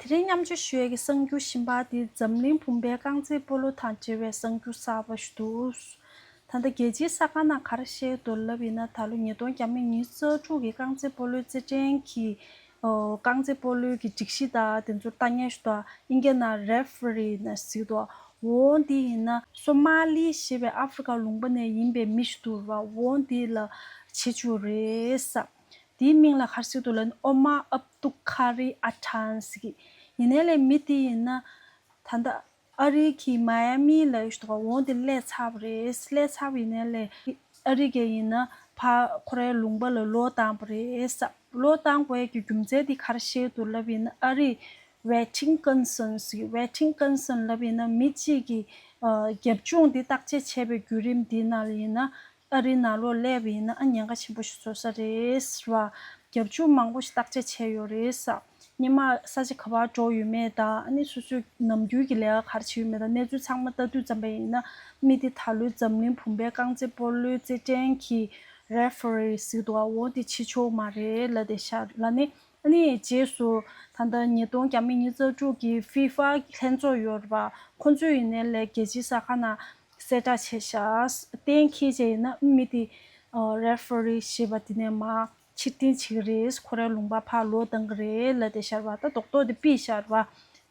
དེ་རིང་མཉམ་སྤྱོད་ཞུ་ཡས་ཀྱི་གསང་རྒྱུད་ཤིང་པགས་འདི་འཛམ་གླིང་བུམ་པའི་རྐང་རྩེད་སྤོ་ལོ་དང་འབྲེལ་བའི་གསང་རྒྱུད་གསར་པ་ཞིག་འདུག་ད་ལྟ་རྒྱལ་སྤྱིའི་ས་ཁང་ནང་གར་བཤད་རྡོར་ལབ་ཡིན་ན་ད་ལོ་ཉིས་སྟོང་གྱ་མི་ཉིན་རྩ་དྲུག་གི་རྐང་རྩེད་སྤོ་ལོའི་རྩེད་འགྲན་གྱི་རྐང་རྩེད་སྤོ་ལོའི་གྱི་སྒྲིག་གཞི་དང་དེ་ཚོར་ལྟ་ཉན་ཞུ་དག་ཨིན་རྒྱ་ནག Referee ནས་གཟིགས་འདུག་འོ་འདི་ཡིན་ན། སོ་མ་ལི་ཞེས་པའི་ཨ་ཧྥི་རི་ཀ་ལུང་པ་ནས་ཡིན་པའི་མི་ཞིག་འདུག་རོགས་འོ་འདི་ལ་བྱེད་བཅུག་རེད་བསམ། དེའི་མིང་ལ་ཤར་སི་ཏུ་ལན་ཨོ་མ་ཨབ་ཏུ་ཁ་རི་ཨ་ཁྲན་ཟེར་གི། ཡིན་ནའི་ལས་མི་དེ་ཡིན་ན། ད་ལྟ་ཨ་རི་གི་མཱ་ཡ་མི་ལ་ཡོད་པ་འོང་དེ་ཀླད་ཚ་བ་རེད། ཀླད་ཚ་བ་ཡིན་ནའི་ལས་ཨ་རི་གའི་ཡིན་ན་ཕ་ཁོ་རའི་ལུང་པ་ལ་ལོ་བཏང་བ་རེད་བསམ། ལོ་བཏང་བའི་གི་རྒྱུ་མཚན་དེ་ཤར་སི་ཏུ་ལབ་ཡིན་ན་ཨ་རི Wetting Concern ཟེར་གི Wetting Concern ལབ་ཡིན་ན་མི་གཅིག་གི་རྒྱབ་ལྗོངས་དེ་བརྟག་དཔྱད་བྱས་པའི་བརྒྱུད་རིམ་དེའི་ནང་ལ་ཡིན་ན་ཨ་རིའི་ནང་ལོ་ལེགས་པའི་ཡིན་ན་ཉེན་ཁ་ཆེན་པོ་ཞིག་བཟོ་ས་རེད་ཟེར་བ། རྒྱབ་ཆུ་མང་པོ་ཞིག་བརྟག་དཔྱད་བྱས་ཡོད་རེད་ས། སྙེ་མ་ས་ཆ་ག་བར་འགྲོ་ཡོད་མེད་དང་ཨ་ནེ་སོ་སོས་ནམ་རྒྱུན་གྱི་ལས་ཀ་ག་རེ་བྱེད་ཡོད་མེད་དང་གནས་ཚུལ་ཚང་མ་ལྟ་དུས་ཙམ་པ་ཡིན་ན་མི་དེ་ད་ལོའི་འཛམ་གླིང་བུམ་པའི་རྐང་རྩེད་སྤོ་ལོའི་རྩེད་འགྲན་གྱི Referee ཟིག་ཏུ་འང་འོང་དེ་ཆེ་ཆོག་མ་རེད་ལ་དེ་ཤ་ལ་ནི་ཨ་ནེ་ཡི་རྗེས་སུ་ད་ལྟ་ཉིས་སྟོང་གྱ་མི་གཉིས་རྩ་དྲུག་གི FIFA ལྷན་ཚོགས་ཡོད་རེད་པ་ཁོང་ཚོས་ཡིན་ནའི་ལས་རྒྱལ་སྤྱིའི་ས་ཁང་ན་གསལ་བསྒྲགས་བྱས། གཏན་འཁེལ་བྱས་ཡོད་ན་དབུས་མི་དེ། Referee། ཞེས་པ་དེ་ནས་མ། ཕྱིར་འཐེན་བྱེད་ཀྱི་རེད། ཁོ་རའི་ལུང་པར་ཕར་ལོག་བཏང་གི་རེད་ལབ་སྟེ་ཤར་བ་ལྟ་རྟོག་རྟོགས་ཏེ་དཔེ་ཤར་བ།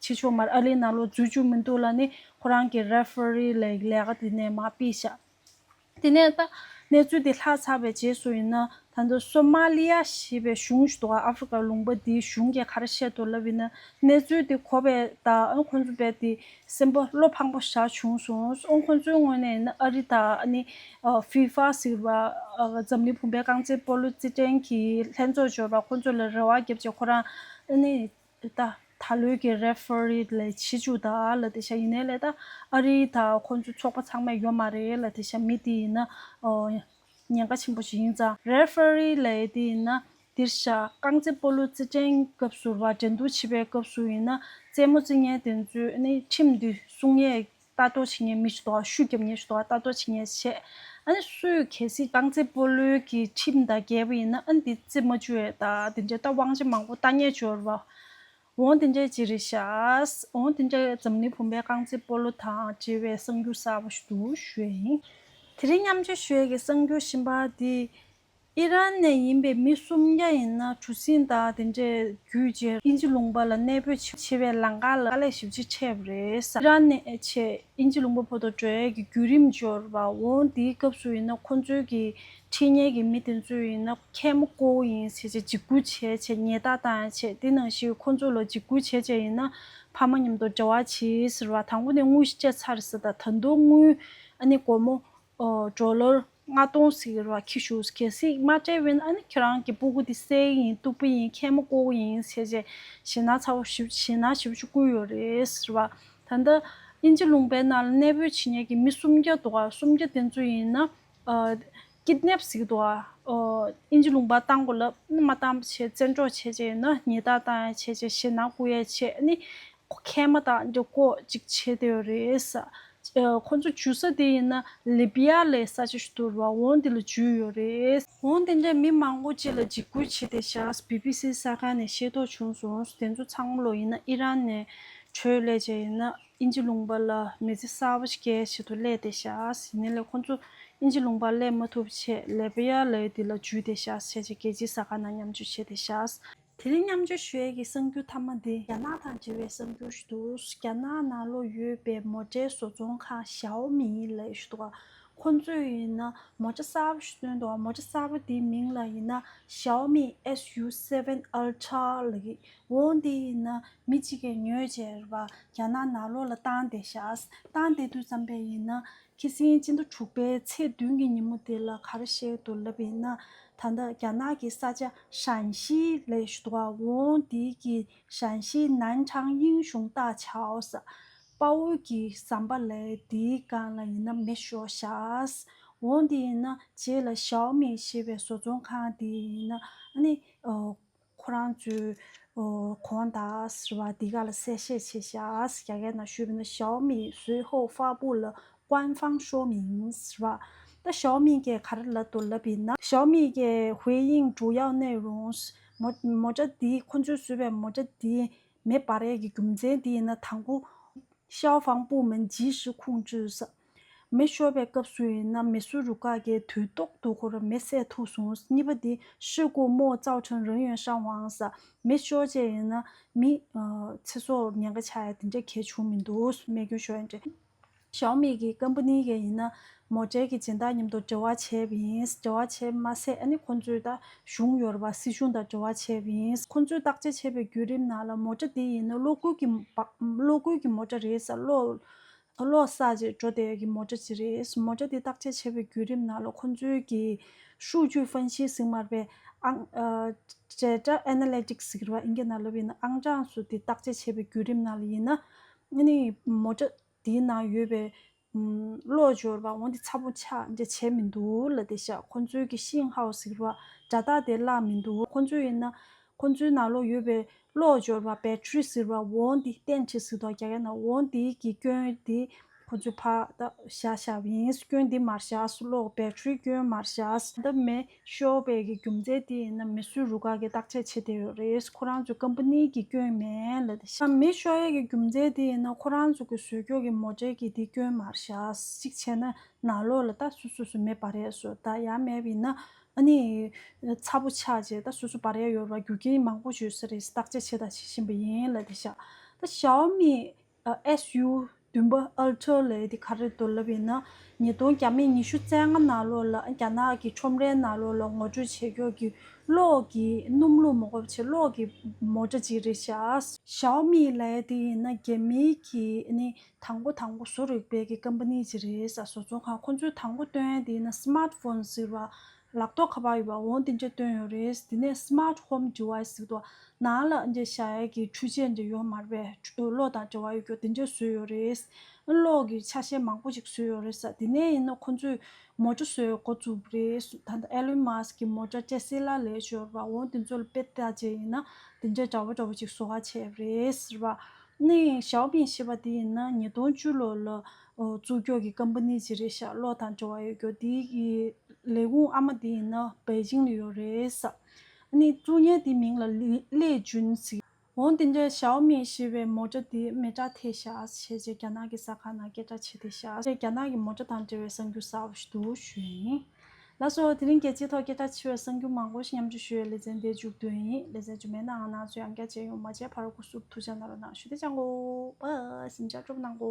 ཕྱི་ཕྱོགས་མར་ཨ་ལེ་ན་ལོ་འཛུལ་བཅུག་མི་འདུག་ལ་ནི་ཁོ་རང་གི Referee ལས་ཀྱི་ལས་ཀ་དེ་ནས་མ་དཔེ་ཤར། དེ་ནས་ད། གནས་ཚུལ་དེ་ལྷག་ཚར་བའི་རྗེས་སུ་ཡིན་ན། ད་ལྟ་སོ་མཱ་ལི་ཡ་ཞེས་པའི་གཞུང་ཞིག་འདུག་ཨ་ཧྥེ་རི་ཀའི་ལུང་པ་འདིའི་གཞུང་གི་ཁར་བཤད་དུ་ལབ་ཡིན་ན་གནས་ཚུལ་དེ་གོ་བས་དང་ཁོ་ཚོ་བས་དེ་སེམས་པ་བློ་ཕངས་པོ་བཞག་བྱུང་སོང་ཁོ་ཚོའི་དངོས་གནས་ཡིན་ན་ཨ་རི་དང་ནི་ཧྥི་ཧྥ་ཟེར་བ་འཛམ་གླིང་བུམ་པའི་རྐང་རྩེད་སྤོ་ལོ་རྩེད་འགྲན་གྱི་ལྷན་ཚོགས་འབྱོར་བ་ཁོ་ཚོ་ལ་རེ་བ་བརྒྱབ་ཅིང་ཁོ་རང་ནི་ད་ད་ལོའི་གི་རེ་ཧྥེ་རི་ལས་བྱེད་ཅུ་དག་ལ་དེ་བཞིན་ཡིན་ནའི་ལས་ད་ཨ་རི་དང་ཁོ་ཚོའི་ཚོགས་པ་ཚང་མས་ཡོད་མ་རེད་ལ་དེ་བཞིན་མི་དེ་ཡིན་ན་ཉེན་ཁ་ཆེན་པོ་ཞིག་ཡིན་ཙང Referee ལས་དེ་ཡིན་ན་འདིར་བཞག་རྐང་རྩེད་སྤོ་ལོའི་རྩེད་འགྲན་སྐབས་ཟུར་བ་འགྲན་བསྡུར་བྱེད་པའི་སྐབས་སུ་ཡིན་ན་རྩེད་མོ་རྩི་ཉན་དེ་ཚོས་ནི་ཁྲིམས་འདི་སྲུང་ཉེས་ལྟ་རྟོག་བྱེད་ཉེས་མི་ཤུགས་དོགས་ཤུགས་རྒྱབ་ཉེས་ཤུགས་དོགས་ལྟ་རྟོག་བྱེད་ཉེས་བྱས་ཨ་ནི་སུས་གལ་སྲིད་རྐང་རྩེད་སྤོ་ལོའི་གི་ཁྲིམས་དང་འགལ་བ་ཡིན་ན་ཨ་ནི་འདི་རྩེད་མོ་བཅུ་ཡོད་ད་དེ་འདྲའི་རྟ་དབང་ཆེན་མང་པོ་རྟ་ཉེས་སྦྱོར་བ་འོང་དེ་འདྲའི་ཅི་རེད་ཤགས། འོང་དེ་འདྲ་འཛམ་གླིང་བུམ་པའི་རྐང་རྩེད་སྤོ་ལོ་དང་བྲལ་བའི་གསང་རྒྱུད་གསར་བ་ཞིག་ཏུ་བཞོས་ཡིན། དེ་རིང་མཉམ་ཆས་ཞོལ་གྱི་གསང་རྒྱུད་གཤིན་པ་འདི། ཨི་རན་ནས་ཡིན་པའི་མི་སུམ་བརྒྱ་ཡིན་ན་གྲུ་གཟིངས་དག་དེ་འདྲའི་བརྒྱུད་རྗེས་ཨིན་ཇི་ལུང་པ་ལ་གནས་སྤོས་བྱེད་པའི་ལང་ཀ་ལ་དཀའ་ལས་ཞིབ་ཅིག་འཕྲད་པ་རེད། ཨི་རན་ནས་ཆེད་ཨིན་ཇི་ལུང་པ་ཕོ་ཐོ་གྲོལ་ཡས་ཀྱི་བརྒྱུད་རིམ་འབྱོར་བ་འོང་དེའི་སྐབས་སུ་ཡིན་ན་ཁོང་ཚོའི་གི་ཁྲེལ་ཉེ་གི་མི་དེ་ཚོས་ཡིན་ན་ཁལ་མོ་ཀོ་བོ་ཡིན་ཟེར་ཆེད་འཇིགས་སྐུལ་བྱས་ཆེད་ཉེས་རྟགས་བཏང་ཡང་ཆད་དེ་ནང་བཞིན་ཁོ་ཚོ་ལ་འཇིགས་སྐུལ་བྱས་ཆེད་ཡིན་ན་ཕ་མ་མཉམ་དུ་འབྲེལ་བ་བྱེད་ཟེར་བ་དང་པོ་ནས་དངུལ་བཅད་ཚར་ཟེར་ད་ད་དུང་དངུལ་ཨ་ནི་སྒོར་མོ་གྲོ་ལོར་ལྔ་སྟོང་ཟེར་བ་ཁྱི་ཤུགས་གལ་སྲིད་མ་སྤྲད་བས་ན་ཨ་ནི་ཁྱེད་རང་གི་སྤུ་གུ་དེ་སྲས་ཡིན་སྟུག་པོ་ཡིན་ཁལ་མོ་ཀོ་བོ་ཡིན་ཟེར་ཆེད་ཞེ་ན་ཚ་བོ་ཞེ་ན་ཞེ་བོ་ཞིག་བསྐུར་ཡོད་རེད་ཟེར་བ་ད་ལྟ་ཨིན་ཇི་ལུང་པའི་ནང་ལ་གནས་སྤོས་བྱེད་ཉེ་གི་མི་སུམ་བརྒྱ་འདུག་ག་སུམ་བརྒྱ་དེ་ཚོ་ཡིན་ན་སྐྱིད་སྣེབས་གཟིགས་དུ་བ། ཨིན་ཇི་ལུང་པ་བཏང་གོ་ལབ། ནི་མ་བཏང་བྱས་བཙན་འཕྲོག་བྱས་བྱས་ཡིན་ན་ཉེས་བརྡ་བཏང་ཡ་བྱས་བྱས་བྱས་ན་སྐུ་ཡ་བྱས་ནི། མཁལ་མ་དང་འདི་ཀོ་ཅིག་བྱས་བསྡད་ཡོད་རེད། ཁོང་ཚོ་འཇུ་ས་དེ་ཡིན་ན་ལི་པི་ཡ་ལའི་ས་ཆ་ཞིག་ཏུ་རུ་བ་འོང་དེ་ལ་འཇུས་ཡོད་རེད། འོང་དེ་འདྲའི་མི་མང་པོ་བཅས་ལ་འཇིགས་སྐུལ་བྱས་ཏེ་བཞག་བྷི་བྷི་སི་ས་ག་ནས་ཤེས་རྟོགས་བྱུང་སོང་དེ་ཚོ་ཚང་མ་ལོ་ཡིན་ན་ཨི་རན་ནས་འཕྲོས་སླད་བྱས་ཡིན་ན། ཨིན་ཇི་ལུང་པ་ལ་མི་ཚེ་གསར་བ་ཞིག་གི་ཆེད་དུ་སླད་དེ་བཞག་ཟིན་ནས་ལས་ཁོ་ཚོ་ཨིན་ཇི་ལུང་པར་སླེབས་མ་ཐུབ་ཆེད་ལེ་བྷི་ཡཱ་ལའི་དེ་ལ་འཇུས་ཏེ་བཞག་བྱས་རྗེས་རྒྱལ་སྤྱིའི་ས་ཁང་ནང་མཉམ་སྤྱོད་བྱས་ཏེ་བཞག། དེ་རིང་མཉམ་སྤྱོད་ཞུས་ཀྱི་གསར་འགྱུར་མཐའ་མ་འདི་རྒྱ་ནག་དང་འབྲེལ་བའི་གསར་འགྱུར་ཞིག་འདུག་རྒྱ་ནག་ནང་ལོགས་ཡོད་པའི་མོ་ཏྲའི་བཟོ་ཚོང་ཁང་ཞའོ་མིའི་ལ་ཡོད་ཞུ་འདུག་ཁོ་ཚོས་ཡིན་ན་མོ་ཏྲ་གསར་བ་ཞིག་བཏོན་འདུག་མོ་ཏྲ་གསར་བ་དེའི་མིང་ལ་ཡིན་ན་ཞའོ་མི SU7 Ultra ལ་ཡིན། འོ་འདི་ཡིན་ན་མི་གཅིག་གིས་ཉོས་ཅེས་ར་བ་རྒྱ་ནག་ནག་ལོ་ལ་བཏང་སྟེ་བཞག། བཏང་སྟེ་དུས་བརྩམས་པས་ཡིན་ན། ཁྱི་སེང་སྤྱི་ཟླ་དྲུག་པའི་ཚེས་བདུན་གྱི་ཉིན་མོ་དེ་ལ་གར་གཤེགས་འདུག་ལབ་ཡིན་ན། ད་ལྟ་རྒྱ་ནག་གི་ས་ཆ་ཧྲན་ཤིས་ལས་བཟོ་བ་འོ་འདི་ཀྱིས་ཧྲན་ཤིས་ནན་ཁྲང་དབྱིན་གཞུང་བཏགས་ཆའོ་ས་དཔའ་བོ་གྱི་ཟམ་པ་ལས་འདིའི་སྒང་ལ་ཡིན་ན་མི་ཤོག་བཞག། འོ་འདི་ཡིན་ན་རྗེས་ལ་ཞའོ་མིང་ཞེས་པའི་བཟོ་ཚོང་ཁང་དེ་ཡིན་ན། ཨ་ནི། ཁོ་རང་ཚོའི། གོང་ད་ཟེར་བ་འདི་ག་ལ་གསལ་བཤད་བྱེད་ཤགས་ཟེར་རྒྱ་གར་ན་ཞུས་པ་ན་ཞའོ་མི་ཟུའི་ཧོའུ་ཧྥ་པུའུ་ལ་ཀུའན་ཧྥང་ཧྲོའུ་མིང་ཟེར་བ། ད་ཞའོ་མི་ཀའི་ག་རེ་ལབ་འདུག་ལབ་ཡིན་ན། ཞའོ་མི་ཀའི་ཧུའེ་དབྱིང་ཀྲུའུ་ཡའོ་གནས་རུང། མོ་ཏྲ་འདི་ཁོ་ཚོས་བཟོས་པའི་མོ་ཏྲ་འདི། མེ་སྦར་ཡས་ཀྱི་རྒྱུ་མཚན་འདི་ཡིན་ན་དང་པོ། ཤའོ་ཧྥང་པུའུ་མིན་ཇི་ཧྲི་ཁུང་ཅུས། མེ་ཤོར་བའི་སྐབས་སུ་ཡིན་ན་མེ་སུ་རུ་ཀཱ་ཀའི་དུས་ཏོག་ཏུ་ཧོར་མེ་བསད་ཐུག་སོང་གཉིས་པ་དེ་ཧྲི་ཀོ་མོ་ཙའོ་ཁྲུན་རོན་ཡོན་ཧྲན་ཝང་ས་མེ་ཤོར་བཅས་ཡིན་ན་མི། ཚེ་སྲོག་ཉེན་ཁ་ཆགས་ཡ་དེ་འདྲ་གལ་བྱུང་མི་འདུག་རྨས་སྐྱོན་ཤོར་ཡ་འདྲ། ཞའོ་མེ་གི་ཀམ་པ་ནི་ག་ཡིན་ན་མོ་ཀྲེ་གི་སྦྱིན་བདག་མཉམ་དུ་འབྲེལ་བ་བྱས་པ་ཡིན་འབྲེལ་བ་བྱས་པ་མ་ཟད་ཨ་ནི་ཁོང་ཚོའི་ད་གཞུང་ཡོ་རོ་པ་སྲིད་གཞུང་དང་འབྲེལ་བ་བྱས་པ་ཡིན། ཁོང་ཚོས་བརྟག་དཔྱད་བྱས་པའི་བརྒྱུད་རིམ་ནང་ལ་མོ་ཀྲ་དེ་ཡིན་ན་གློག་སྒུལ་གྱི་མོ་ཀྲ་རེད་ས་གློག་ཨ་ལོག་ས་ཅེས་འགྲོ་བསྡད་ཀྱི་མོ་སྐྲ་ཅི་རེད། མོ་སྐྲ་འདི་བརྟག་དཔྱད་བྱེད་པའི་བརྒྱུད་རིམ་ནང་ལོ་ཁོ་ཚོའི་གི་ཧྲུའུ་ཅུའི་ཧྥན་ཤིའི་ཟིང་མར་པའི་ཨང། བྲེ་སྐྲ Analytics ཟེར་བ་ཨིན་སྐད་ནང་ལབ་ཡིན་ན་ཨང་གྲངས་སུ་དེ་བརྟག་དཔྱད་བྱེད་པའི་བརྒྱུད་རིམ་ནང་ལ་ཡིན་ན། ནི་མོ་སྐྲ་དེའི་ནང་ཡོད་པའི། གློག་སྦྱོར་བ་འོན་ཏེ་ཚ་པོ་ཆག་འདྲེ་བྱས་མི་འདུག་ལ་དེ་ཤ་ཁོ་ཚོའི་གི་ཤིང་ཧའོ་ཟེར་བ་སྒྲ་རྟགས་དེ་བརླག་མི་འདུག་ཁོ་ཚོ་ཡིན་ན། ཁོ་ཚོའི་ནང་ལོགས་ཡོད་པའི་གློག་སྦྱོར་བ Battery ཟེར་བ་འོང་དེ་བསྟན་བྱས་ཟིག་དོག་རྒྱག་ཡ་ན་འོང་དེའི་གི་སྐྱོན་དེ་ཁོ་ཚོའི་ཕ་ད་བཞག་བཞག་བ་ཡིན་སྐྱོན་དེ་མར་བཞག་གློག Battery སྐྱོན་མར་བཞག། ད་མེ་ཤོ་བའི་གི་རྒྱུ་མཚན་དེ་ཡིན་ན་མེ་སུའི་རུ་ཁག་གི་བརྟག་དཔྱད་བྱེད་དེ་ཡོད་རེད་ཁོ་རང་ཚོའི Company གི་སྐྱོན་མེད་ལ་དེ་ཤ། མེ་ཤོ་ཡའི་གི་རྒྱུ་མཚན་དེ་ཡིན་ན་ཁོ་རང་ཚོ་གི་ཟོས་ཀྱོག་གི་མོ་འདྲེ་གི་དེ་སྐྱོན་མར་བཞག་གཅིག་བྱས་ན་ནང་ལོགས་ལ་ད་སུ་སུ་སུ་མེད་བ་རེད་སོ་ད་ཡ་མེད་བ་ཡིན་ན་ཨ་ནི། ཚ་པོ་ཆགས་རྗེས་ད་སོ་སོ་བར་ཡ་ཡོར་བ་རྒྱུ་རྐྱེན་མང་པོ་བྱོས་ས་རེད་བརྟག་དཔྱད་བྱེད་དང་བྱེད་བཞིན་པ་ཡིན་ལ་དེ་ཤ་ད Xiaomi SU བདུན་པ Ultra ལས་དེ་ག་རེད་འདོད་ལབ་ཡིན་ན་ཉིས་སྟོང་གྱ་མེད་ཉི་ཤུ་རྩེ་ལྔ་ནང་ལོགས་ལ་རྒྱ་ནག་གི་ཁྲོམ་རའི་ནང་ལོགས་ལ་ངོ་སྤྲོད་བྱེད་ཁྱོད་ཀྱི་གློག་གི་སྣུམ་ལུག་མོ་གོ་ཕྱེད་གློག་གི་མོ་སྒྲ་ཅིག་རེད་ཤ། Xiaomi ལས་དེ་ཡིན་ན་རྒྱ་མིའི་གི་ནི་དང་པོ་དང་པོ་བཟོ་རིག་པའི་གི་ཀམ་པ་ནི་ཅི་རེད་ས་བཟོ་ཚོང་ཁང་ཁོང་ཚོས་དང་པོ་བཏོན་དེ་ན Smart Phone ཟེར་བ་ལག་ཐོག་ཁ་པར་ཡོད་པ་འོང་དེ་འདྲ་བཏོན་ཡོད་རེད་དེ་ནས Smart Home Device ཟེར་དུ་ན་ལ་འདྲ་ཤ་ཡ་གི་འཕྲུལ་ཆས་འདྲ་ཡོད་མར་བས་གློག་དང་འབྲེལ་བ་ཡོད་རྒྱུ་དེ་འདྲ་བཟོས་ཡོད་རེད་གློག་གི་ཆ་ཤས་མང་པོ་ཞིག་བཟོས་ཡོད་རེད་ས་དེ་ནས་ཡིན་ན་ཁོང་ཚོས་མོ་ཏྲ་བཟོས་འགོ་བཙུགས་པ་རེད་ད་ལྟ Elon Musk གི་མོ་ཏྲ Tesla ལས་ཤོར་བ་འོང་དེ་ཚོ་ལ་དཔེ་བལྟ་བྱས་ཡིན་ན་དེ་འདྲ་འདྲ་བོ་འདྲ་བོ་ཞིག་བཟོ་བ་བྱས་པ་རེད་ཟེར་བ་ནི་ཞའོ་པིན་ཞེས་པ་དེ་ཡིན་ན་ཉིས་སྟོང་བཅུ་ལོ་ལ་བཙུགས་ཀྱོག་གི་ཀམ་པ་ནི་ཅི་རེད་ཤག་ལོག་དང་འབྲེལ་བ་ཡོད་ཀྱོག་དེའི་ལས་ཁུངས་ཨ་མ་དེ་ཡིན་ན་པེ་ཅིང་ལ་ཡོད་རེད་ཟེར། ནི་ཀྲུ་གཉན་དེའི་མིང་ལ་ལེ་ཅུན་ཟེར། འོང་དེ་འདྲའི་ཞའོ་མིན་ཞེས་པའི་མོ་ཏྲ་དེ་མེ་ཏྲ་ཐེ་ཤ་ཨས་བྱས་རྗེས་རྒྱ་ནག་གི་ས་ཁང་ནང་སྐད་གྲགས་ཆེ་ཐེ་ཤ་ཨས་རྒྱ་ནག་གི་མོ་ཏྲ་དང་འབྲེལ་བའི་གསར་འགྱུར་གསར་བ་ཞིག་ཏུ་བཞུགས་ཡིན། ལགས་སོ། དེ་རིང་རྒྱལ་སྤྱིའི་ཐོག་སྐད་གྲགས་ཆེ་བའི་གསར་འགྱུར་མང་པོ་ཞིག་མཉམ་འབྲེལ་ཞུ་ཡས་ལེ་ཚན་འདིར་འཇུག་འདོད་ཡིན། ལེ་ཚན་རྗུ་མེད་ནའང་ནང་ཆོས་ཡང་བསྐྱར་སྤྱད་ཡོང་མ་བྱས་ཕར་སྒུག་སུབ་ཐུག་ཆ་ནང་རོ་ནང་ཞུ་བདེ་ཅང་གོ། བསིམ་ཆ་སྤྲོ་པོ་གནང་གོ།